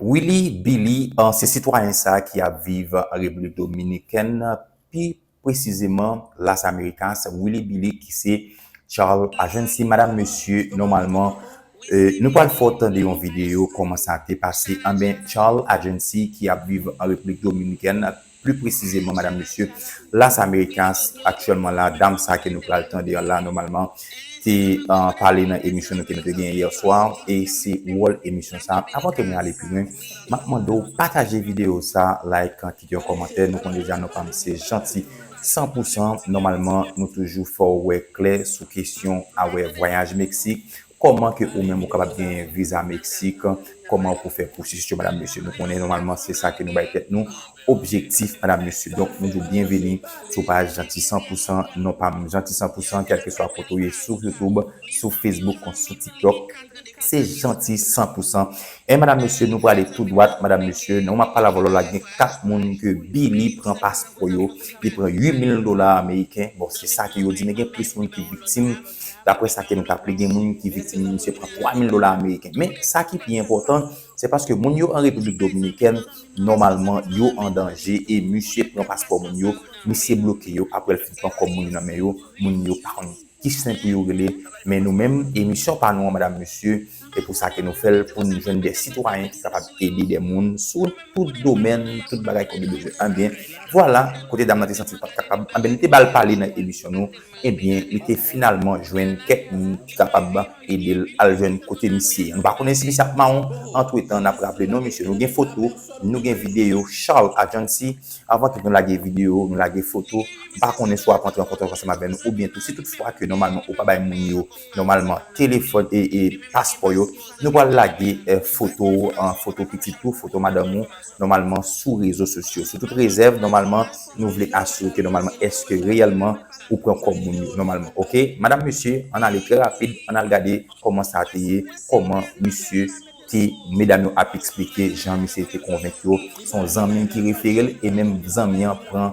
Willy Billy se sitwayen sa ki ap viv Repiblik Dominikèn, pi presizeman Las Americas, Willy Billy ki se Charles Agency. Madam, mesye, nòmalman, nou pral fè w tande yon videyo kòman sa te pase. Anben, Charles Agency ki ap viv an Repiblik Dominikèn Pli presizeman, madam, mesye, Las Americas, aktyèlman la, dam sa ke nou pral tande an la, nòmalman, te pale nan emisyon nou ke nou te genyen yè swa, e se wòl emisyon sa. Avan ke mwen ale pi lwen, m ap mande w pataje videyo sa, like, kite yon kòmantè. Nou konnen deja non pa m se Jeanty san pou san. Nòmalman, nou toujou fè w wè klè sou kesyon awè vwayaj Meksik. Koman ke ou menm ou kapab genyen viza meksik, koman pou fè pwosesis yo madam mesye. Nou konnen nòmalman se sa ke nou bay tèt nou objektif madam mesye. Donk nou di w byenveni sou paj Jeanty 100 pou 100, non pa m Jeanty 100 pou 100 kèlkeswa kote w ye sou YouTube, sou Facebook kon sou TikTok se Jeanty 100 pou 100. E madam mesye nou prale tou dwat madam mesye nan map pale avè w lò la gen 4 moun ke Billy pran paspò yo, li pran 8000 dola ameriken, bon se sa ke yo di men gen plis moun ki viktim. Daprè sa ke nou tap li gen moun ki viktim li misye pran 3 mil dola ameriken. Men sa ki pi enpòtan se paske moun yo an Repiblik Dominikèn nòmalman yo an danje e misye pran paspò moun yo, misye bloke yo aprè l fin pran kòb moun yo nan men yo, moun yo pa konn ki sen pou yo rele men nou menm e misyon pa nou an madam mesye e pou sa ke nou fè l pou n jwenn de sitwayen ki kapab ede de moun sou tout domèn, tout bagay ke yo bezwen. Anben vwala kote dam nan te santi l pat kapab anben nou te ba l pale nan emisyon nou. Ebyen li te finalman jwenn kèk moun ki kapab edel al jwenn kote misye an nou pa konnen si misye ap mawon antretan nap raple non misye nou gen foto nou gen video Charles Adjancy avan tout nou lage video nou lage foto m pa konnen si wap antre an kontak ansanm avè nou oubyen tou si tout fwa ke nòmalman ou pa bay moun yo nòmalman telefòn e paspò yo nou pral lage foto ou foto pitit ou foto madanm ou. nòmalman sou rezo sosyo. Sou tout rezèv, nòmalman, nou vle asire ke nòmalman èske reyèlman ou pran kòb moun yo, nòmalman. Ok? Madam, mesye, ann ale trè rapid, ann al gade kòman sa te ye, kòman misye te, medam yo ap eksplike jan misye te konvenk yo, s on zanmi ki refere l e menm zanmi an pran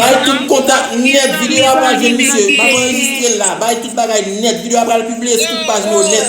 Bay tout kontak nèt video a pral jwenn misye map anregistrel la bay tout bagay nèt video a pral pibliye sou tout paj nou nèt.